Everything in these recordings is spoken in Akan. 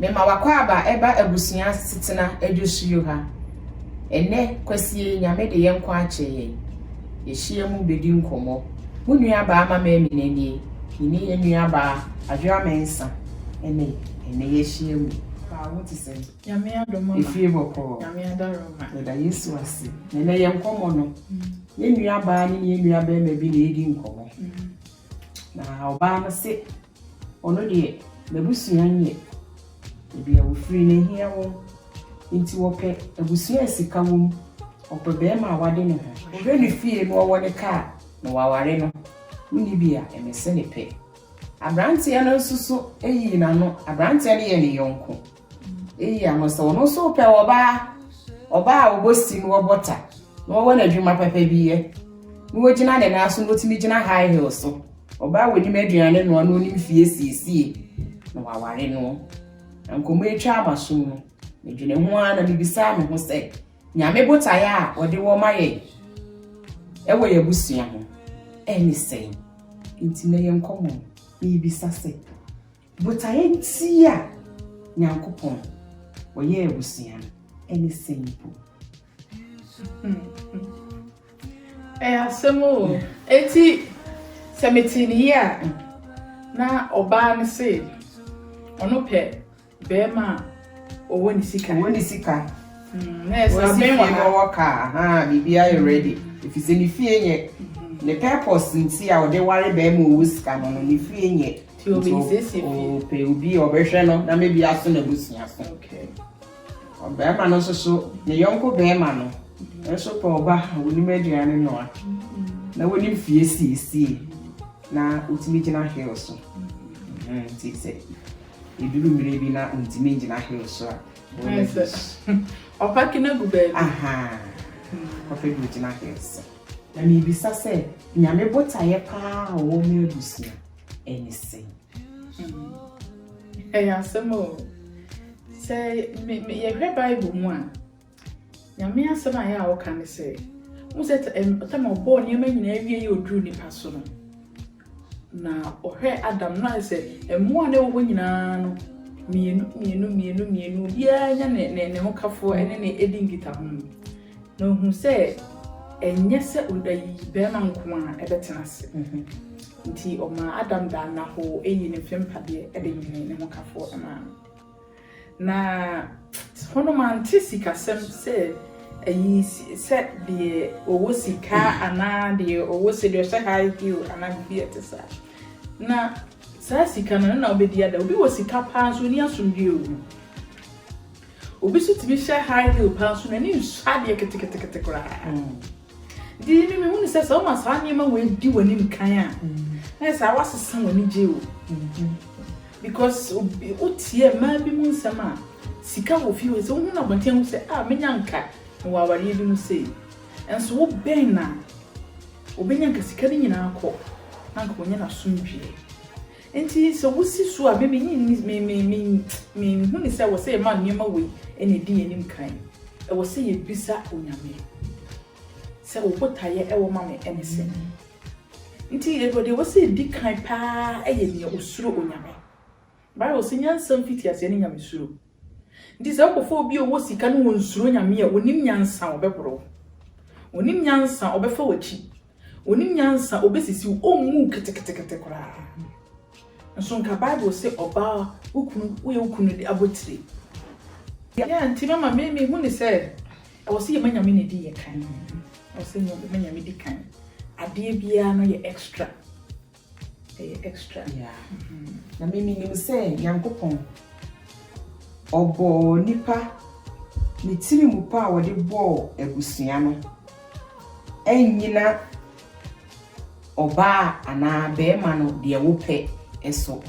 Mema w'akwaaba ɛba abusua asetena adwosuo ha. Ɛnɛ, Kwasie, Nyame de yɛn nkwa akyɛ yɛn. Yɛahyiam bɛdi nkɔmmɔ. Mo nuabaa Mama Amina nie, me ne yɛn nuabaa Adwoa Mensah ɛne ɛnɛ yɛahyia mu. Nuabaa wo te sɛn? Nyame adom mama. Efie bɔkɔɔ? Nyame adom mama. Yɛda Yesu ase. Na ɛnɛ yɛn nkɔmmɔ no, yɛn nuabaa ne yɛn nuabarima bi na ɛredi nkɔmmɔ. Na ɔbaa no se Ɔno deɛ n'abusua nyɛ baabi a wɔfiri no ɛhia wɔn nti wɔpɛ abusua a sika wɔ mu, wɔpɛ barima a wade ne ho, ɔbɛ ne fie na ɔwɔ ne kaa na waware no, wonni bi a ɛmɛ se ne pɛ. Abranteɛ no nso so yii n'ano, abranteɛ no yɛ ne yɔnko. Eyi a mo sɛ ɔno nso pɛ ɔbaa, ɔbaa a ɔbɔ sim, ɔbɔ ta, na ɔwɔ n'adwuma papa bi yɛ, na ɔgyina ne nan so na ɔtumi gyina high heel so, ɔbaa a ɔnim aduane noa na ɔnim fie siesie, na waware no. Na nkɔmmɔ yi twaa m'asom no, medwene ho ara na mebisaa me ho sɛ, Nyame botaeɛ a ɔde wɔ ma yɛn ɛwɔ yɛn abusua ho ɛne sɛn? Nti na yɛn nkɔmmɔ no, mebisa sɛ, Botaeɛ tii a Nyankopɔn ɔyɛɛ abusua no ɛne sɛn mpo? Ɛyɛ asɛm o! Enti sɛ metee no yie a, na ɔbaa no se ɔno pɛ barima a ɔwɔ ne sika. Ɔwɔ ne sika. Na ɛsɛ Wɔsi abɛn wɔ fie ha. wɔwɔ kaa, ahaa, biribiara yɛ ready. Ɛfiri sɛ ne fie nyɛ. Ne purpose nti a ɔde ware barima a ɔwɔ sika no no, ne fie nyɛ. Nti obi Nti nsiesie o- fie. ɔpɛ obi a ɔbɛhwɛ no na maybe aso n'abusua so. Okay. Ɔbarima no nso so, ne yɔnko barima no nso pɛ ɔba a onim aduane noa, na onim fie siesie, na otumi gyina hill so. Mhm, Nti sɛ eduru mmere bi na ontumi ngyina hill so a, Ayɛ ɔyɛ sɛ bi. ɔpake no agu baabi. Aha, ɔpɛ bi ogyina hill so. Na mibisa sɛ, Nyame botaeɛ paa a ɔwɔ ma abusua, ne sɛn? Ɛyɛ asɛm o. Sɛ me me yɛhwɛ Bible mu a, Nyame asɛm a yɛ a ɔka ne sɛ, mo sɛ tam ɔbɔɔ nneɛma nyinaa wie yɛ oduru nipa so no, na ɔhwɛ Adam no ayɛ sɛ mmoa na ɛwɔ hɔ nyinaa no, mmienu mmienu mmienu mmienu obiara nya ne ne ne hokafoɔ ne ne edi nkitaho no, na ohun sɛ ɛnyɛ sɛ bɛrima nko a ɛbɛtena ase. Nti ɔmaa Adam daa nnahoo yii ne mfe mpadeɛ de nwenee ne hokafoɔ maa no. Na hɔ no mante sikasɛm sɛ ayi sɛ deɛ ɔwɔ sika anaa deɛ ɔwɔ sɛ deɛ ɔhyɛ high heel anaa biribi a ɛte saa. Na saa sika no no na wobɛdi ada. Obi wɔ sika paa nso ɔni asomdwie wɔ mu. Obi nso tumi hyɛ high heel paa nso n'ani nsu adeɛ ketekete koraa. Enti emi mehunu sɛ sɛ woma saa nneɛma wei di w'anim kan a, na yɛ saa woasesa w'anigye o. Because obi wotie mmaa bi mu nsɛm a sika wɔ fie o, sɛ wohu no abɔnten a wohu sɛ ah menya nka mewɔ awareɛ bi mu sei. Nso wobɛn no a, obɛnya nka sika no nyinaa kɔ na nka ɔnyɛ n'asomdwoeɛ. Enti sɛ wosi su a, me minnye nni, me, me, me, minhu no sɛ ɛwɔ sɛ yɛma nneɛma wei na edi yɛn anim kan. Ɛwɔ sɛ yebisa Onyame sɛ, Wo botaeɛ wɔ ma me ne sɛn? Enti deɛ ɛwɔ sɛ edi kan paa yɛ nea osuro Onyame. Bible se, Nyansa mfitiaseɛ ne nyamesuro. Nti sɛ wokɔfa obi a ɔwɔ sika na ɔnsuro Nyame a, ɔnim nyansa a ɔbɛboro wo, ɔnim nyansa a ɔbɛfa w'akyi, ɔnim nyansa a ɔbɛsisi wo, ɔmmu wo ketekete koraa. Nso nka Bible se ɔbaa wo kunu, woyɛ wo kunu abotire. Yeah, nti mama me mehu ne sɛ ɛwɔ sɛ yɛma Nyame ne di yɛ kan. Ɛwɔ sɛ yɛma Nyame di kan. Adeɛ biara no yɛ extra. Ɛyɛ extra. Yeah. Na me menim sɛ Nyankopɔn ɔbɔɔ nipa ne tiri mu pa a wɔde bɔɔ abusua no ɛnyina ɔbaa anaa bɛrima no deɛ wopɛ so.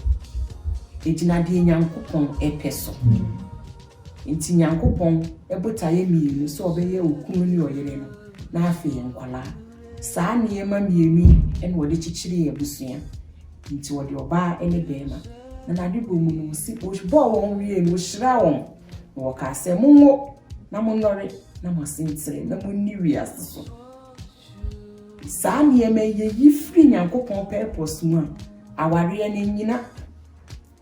Ɛgyina deɛ Nyankopɔn ɛpɛ so. Nti Nyankopɔn ɛbotaeɛ mmienu sɛ ɔbɛyɛ okunu ne ɔyere no na afei nkwadaa. Saa nneɛma mmienu yi na wɔde kyekyeree abusua. Enti wɔde ɔbaa ne barima, na n'adebɔ mu no, wɔsi, wɔbɔɔ wɔn wiei no, wɔhyiraa wɔn, na wɔkaa sɛ, Monwo, na monnɔre, na moasen trɛ, na monni wiase so. Saa nneɛma yi, yɛyi firi Nyankopɔn purpose mu a, awareɛ no nnyina.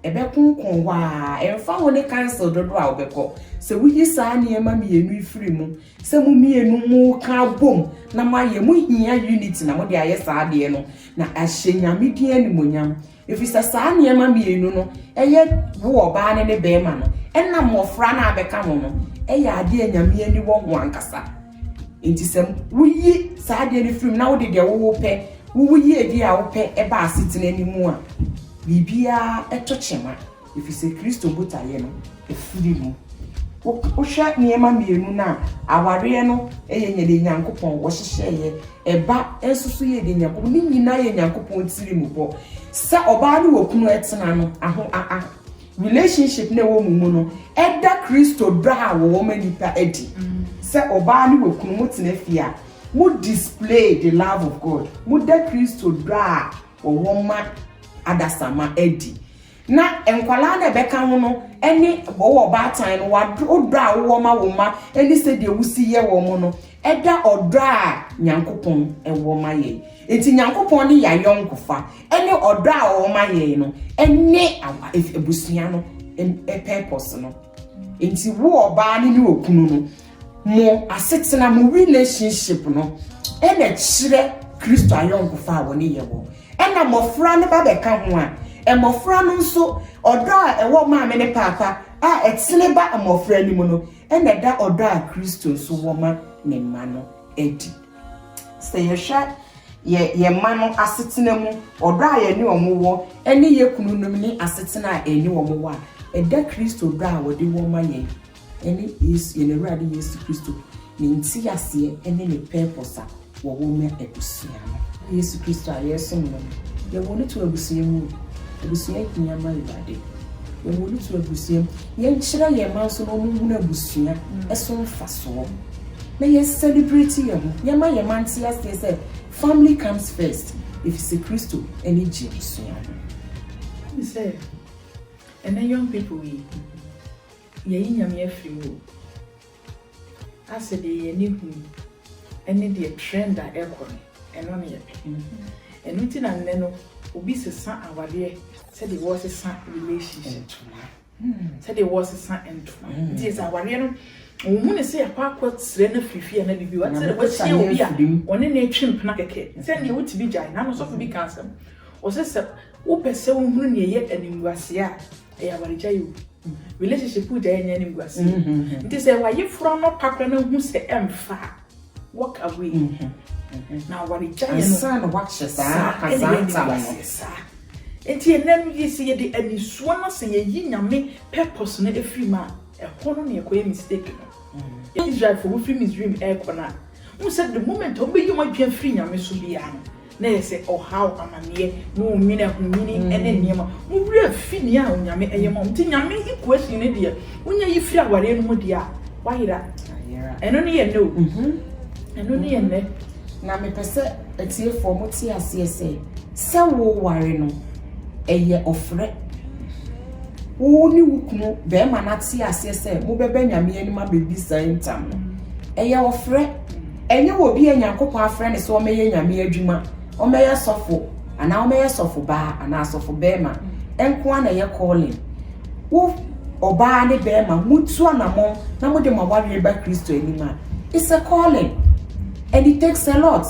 Ɛbɛkonkɔn hɔ ara, ɛmfa ho ne council dodoɔ a wobɛkɔ. Sɛ woyi saa nneɛma mmienu yi firi mu, sɛ mo mmienu moka abom na moayɛ, mohia unity na mode ayɛ saa adeɛ no, na ahyɛ Nyame din animuonyam. Ɛfiri sɛ saa nneɛma mmienu no, ɛyɛ wo ɔbaa no ne barima no, ɛna mmɔfra no a bɛka ho no, ɛyɛ adeɛ a Nyame ani wɔ ho ankasa. Enti sɛ woyi saa adeɛ no firi mu na wode deɛ wowopɛ, wowo yiedie a wopɛ ba asetena no mu a, biribiara to kyema, ɛfiri sɛ Kristo botaeɛ no firi mu. Wohwɛ nneɛma mmienu no a, awareɛ no yɛ nyɛ deɛ Nyankopɔn wɔhyehyɛeɛ, ɛba nso so yɛ deɛ Nyankopɔn, ne nyinaa yɛ Nyankopɔn tirimubɔ sɛ ɔbaa ne okunu tena no, aho, a, a. Relationship na ɛwɔ mo mu no ɛda Kristo dɔ a wɔwɔ ma nnipa adi. Sɛ ɔbaa ne wɔkunu mo tena fie a, mo display the love of God, mo da Kristo dɔ a wɔwɔ ma adasamma adi. Na nkwadaa no a ɛbɛka ho no ne wowɔ ɔbaatan no wodɔ a wowɔ ma wo mma ne sɛdeɛ wosi yɛ wɔn no ɛda ɔdɔ a Nyankopɔn ɛwɔ ma yɛn. Enti Nyankopɔn ne yɛayɔnkofa. ɛne ɔdɔ a wɔn ma yɛn no ɛne awa abusua no purpose no nti wo ɔbaa ne ne okunu no mo asetena mo relationship no ɛna kyerɛ kristo ayɔnkofa a wɔne yɛ wɔ ɛna mmɔfra no ba bɛka ho a mmɔfra no nso ɔdɔ a ɛwɔ maame ne paapa a ɛtene ba mmɔfra no mu no ɛna ɛda ɔdɔ a kristo nso wɔ ma ne mma no adi Sɛ yɛhwɛ yɛ yɛn mma no asetena mu, ɔdɔ a yɛne wɔn wɔ ne yɛn kununom ne asetena a yɛne wɔn wɔ a, ɛda Kristo dɔ a wɔde wɔ ma yɛn ne Yesu, yɛn Awurade Yesu Kristo, ne nteaseɛ ne ne purpose a wɔwɔ ma abusua no. Yesu Kristo a yɛresom no no, yɛwɔ no to abusua mu o. Abusua hia ma Awurade. Yɛwɔ no to abusua mu. Yɛnkyerɛ yɛn mma nso na wɔnhunu abusua so mfasoɔ. na yɛ celebrate yɛn ho, yɛ ma yɛn mma nte aseɛ sɛ family comes first, efisɛ Kristo ne gye abusua no. Wohu sɛ ɛnɛ young people yi yɛyi Nyame afiri mu o, asɛ deɛ yɛn ani hu ɛne deɛ trend a ɛkɔ no ɛno ne yɛpɛ, ɛno nti na nnɛ no obi sesa awadeɛ sɛdeɛ wɔsesa relationship. sɛdeɛ wɔresesa ntoma nti yɛ sɛ awareɛ no wɔhu ne sɛ ɛkɔ akɔ serɛ no afiri fie anaa biribi wate sɛ wahyia obi a ɔne ne atwe mpena kɛkɛ sɛdeɛ wotumi gyae na nosɔfo bi ka asɛm ɔsɛ sɛ wopɛ sɛ wohunu neɛ ɛyɛ animguaseɛ a ɛyɛ awaregya yi o relationship gya yɛ nyɛ animguaseɛ nti sɛ wayeforo anɔpa kora no hu sɛ ɛmfa a Walk away na aware gyaeɛ no ansa na wakyɛ saa kazaa ntam no saa nti ɛnɛ no yɛ sɛ yɛde anisoa no sɛ yɛyi nyame purpose no ɛfiri mu a ɛhɔ no na ɛkɔyɛ mistake no Israelfoɔ wɔfiri Misraim ɛrekɔ no a wohu sɛ the moment a wɔbɛyi wɔn adwene afiri nyame so biara no na ɛyɛ sɛ ɔhaw, amanneɛ, ne onwini ahonyini ne nneɛma. Mo werɛ afi nea Onyame yɛ ma mo nti. Nyame equation no deɛ wonya yi firi awareɛ no mu deɛ a, woayera. Ɛno ne yɛ nnɛ o. Ɛno ne yɛ nnɛ. Na mepɛ sɛ atiefoɔ mo te aseɛ sɛ, sɛ woware no, ɛyɛ ɔfrɛ. Wo ne wo kunu barima no ate aseɛ sɛ mobɛba Nyame anim abɛdi saa ntam no, ɛyɛ ɔfrɛ. Ɛnyɛ obi a Nyankopɔn afrɛ no sɛ ɔmmɛyɛ Nyame adwuma, ɔmmɛyɛ sɔfo, anaa ɔmmɛyɛ sɔfobaa, anaa sɔfobarima, nko ara na ɛyɛ calling. Wo ɔbaa ne barima, mutu anamɔn na mode mo awareɛ ba Kristo anim a, it's a calling and it takes a lot.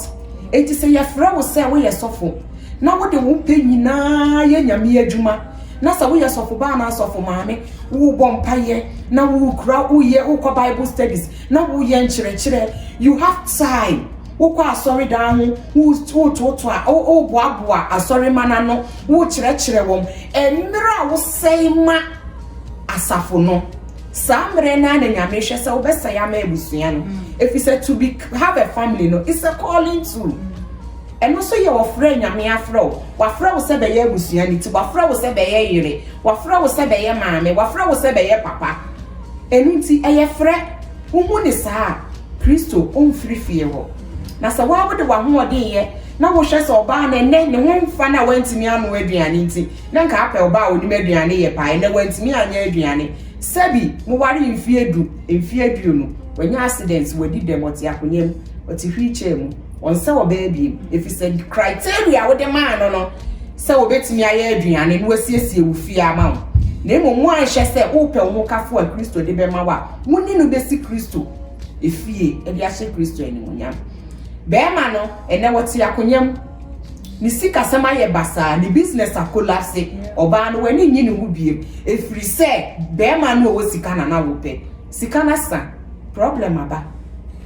Enti sɛ yɛfrɛ wo sɛ woyɛ sɔfo na wode wo pɛ nyinaa yɛ Nyame adwuma, na sɛ woyɛ sɔfobaa anaa sɔfomaame, wobɔ mpaeɛ na wokura woyɛ wokɔ Bible studies, Na wo yɛ nkyerɛkyerɛ you have time wo kɔ asɔre dan ho wo wo to to a wo wo boa boa asɔre ma na no wo kyerɛkyerɛ wɔn ɛmmerɛ a wo sɛe ma asafo no saa mmerɛ na na nyame hwɛ sɛ wo bɛ sɛe ama abusua no efisɛ to be have a family no is a calling too. Ɛno nso yɛ ɔfrɛ Nyame afrɛ wo. Wafrɛ wo sɛ bɛyɛ abusua no ti, wafrɛ wo sɛ bɛyɛ yere, wafrɛ wo sɛ bɛyɛ maame, wafrɛ wo sɛ bɛyɛ papa. Ɛno nti ɛyɛ frɛ. Wohu no saa a, Kristo ɔmfiri fie hɔ. Na sɛ wo ara wode w'ahoɔden yɛ na wohwɛ sɛ ɔbaa no ɛnnɛ ne ho mfa no a wantumi anoa aduane nti, na nka apɛ ɔbaa a ɔnim aduane yɛ paa, ɛnnɛ wantumi anyɛ aduane. Sɛbi, mowaree mfeɛ du, mfeɛ aduonu, wanya accident, wadi dɛm, ɔte akonya mu, ɔte wheelchair mu. Ɔnsɛ ɔbaa bio, efisɛ criteria a wode maa no no sɛ obetumi ayɛ aduane na wasiesie wo fie ama wo. Na mmom woanhwɛ sɛ wopɛ wo hokafo a Kristo de bɛma wo a wo ne no besi Kristo efie de ahyɛ Kristo animuonyam. Barima no, ɛnnɛ ɔte akonya mu. Ne sikasɛm ayɛ basaa, ne business akolapse. Ɔbaa no, w'ani nnye ne ho bio, efiri sɛ barima no a ɔwɔ sika na na wopɛ. Sika no asa, problem aba,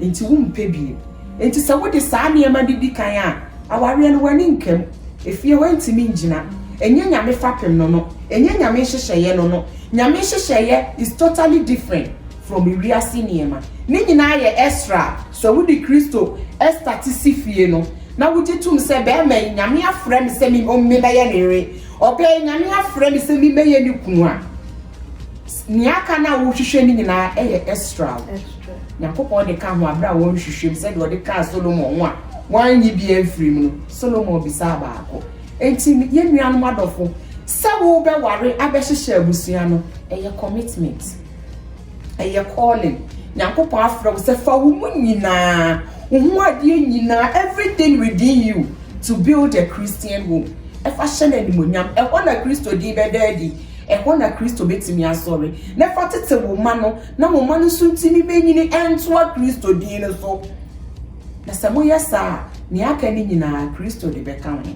enti wompɛ bio. Enti sɛ wode saa nneɛma no di kan a, awareɛ no w'ani nka mu. Efie hɔ ntumi ngyina. Ɛnyɛ Nyame fapem no no. Ɛnyɛ Nyame nhyehyɛeɛ no no. Nyame nhyehyɛeɛ is totally different from wiase nneɛma. Ne nyinaa yɛ Esra. Sɛ wode Kristo starte si fie no, na wogye tom sɛ bɛɛma yi Nyame afrɛ me sɛ me mmɛyɛ ne yere, ɔbɛɛ yi Nyame afrɛ me sɛ me mmɛyɛ ne kunu a, Nea aka no a worehwehwɛ no nyinaa yɛ Esra o. Nyankopɔn de ka ho bere a wɔrehwehwɛ mu sɛdeɛ ɔde kaa Solomon ho a wannye bi amfiri mu no, Solomon bisaa baako. Enti yɛn nuanom adɔfo, sɛ worebɛware abɛhyehyɛ abusua no, ɛyɛ commitment. Ɛyɛ calling. Nyankopɔn afrɛ wo sɛ fa wo mu nyinaa, wo ho adeɛ nyinaa, everything within you to build a Christian home. Ɛfa hyɛ no animuonyam. Ɛhɔ na Kristo din bɛda adi. Ɛhɔ na Kristo bɛtumi asɔre na ɛfa tete wo mma no na wo mma no nso ntumi bɛnyini ntoa Kristo din no so. Na sɛ moyɛ saa a, nea aka no nyinaa, Kristo de bɛka ho.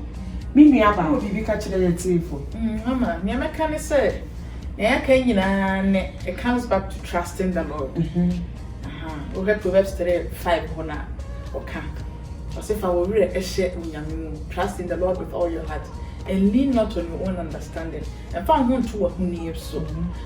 Me nuabaa, wowɔ biribi ka kyerɛ yɛn atiefo? Mama, nea mɛka ne sɛ, nea yɛaka yi nyinaa ne, it comes back to trusting the Lord. Wohwɛ Proverbs three five hɔ no a, ɔka. Ɔse fa wo werɛ hyɛ Onyame mu, trust in the Lord with all your heart and lean not on your own understanding, mfa wo ho nto w'ahoni so,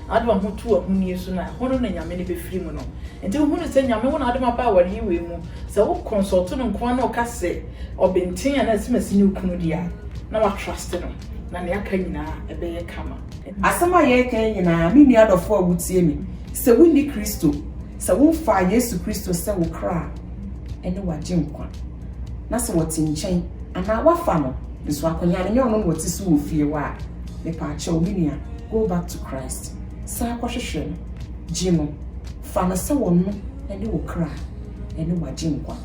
na wode wo ho to w'ahoni so no a, ɛhɔ no na Nyame no bɛfiri mu no. Nti wo hunu sɛ Nyame wo na wode m'aba aware yi wei mu, sɛ wo consult no nkoa na ɔka sɛ ɔbenten anaa asimasi ne wo kunu deɛ a, na wa trust no, na nea aka nyinaa ɛbɛyɛ kama. Asɛm a yɛreka yi nyinaa, me nua dɔfoɔ a wotie me, sɛ wonni Kristo, Sɛ wofaa Yesu Kristo sɛ wo kra a ɛne w'agyenkwa, na sɛ wɔte nkyɛn anaa woafa no nso akonya no nyɛ ɔno na ɔte so wɔ fie hɔ a, mepaakyɛw me nua, go back to Christ. San kɔhwehwɛ no. Gye no. Fa no sɛ ɔno ne wo kra a ɛne w'agyenkwa.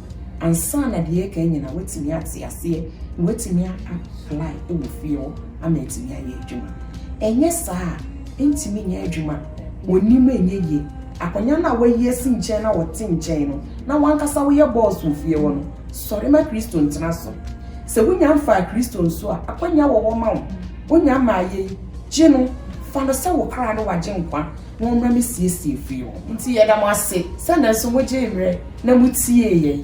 Ansa na deɛ ɛreka yi nyinaa woatumi ate aseɛ na woatumi a apply wɔ fie hɔ ama atumi ayɛ adwuma. Ɛnyɛ saa a, Ntumi nyɛ adwuma. Wɔnnim nyɛ yie. Akonnwa no a wɔayi asi nkyɛn na wɔte nkyɛn no na w'ankasa woyɛ bɔɔs wɔ fie hɔ no, sɔre ma Kristo ntena so. Sɛ wonya mfaa Kristo nso a, akwannya wɔ hɔ ma wo. Wonya mmaeɛ yi, gye no, fa no sɛ wo kra ne w'agyenkwa na ɔmmra mmɛsiesie fie hɔ. Nti yɛda mo ase sɛ nanso mogyee mmerɛ na motiee yɛn.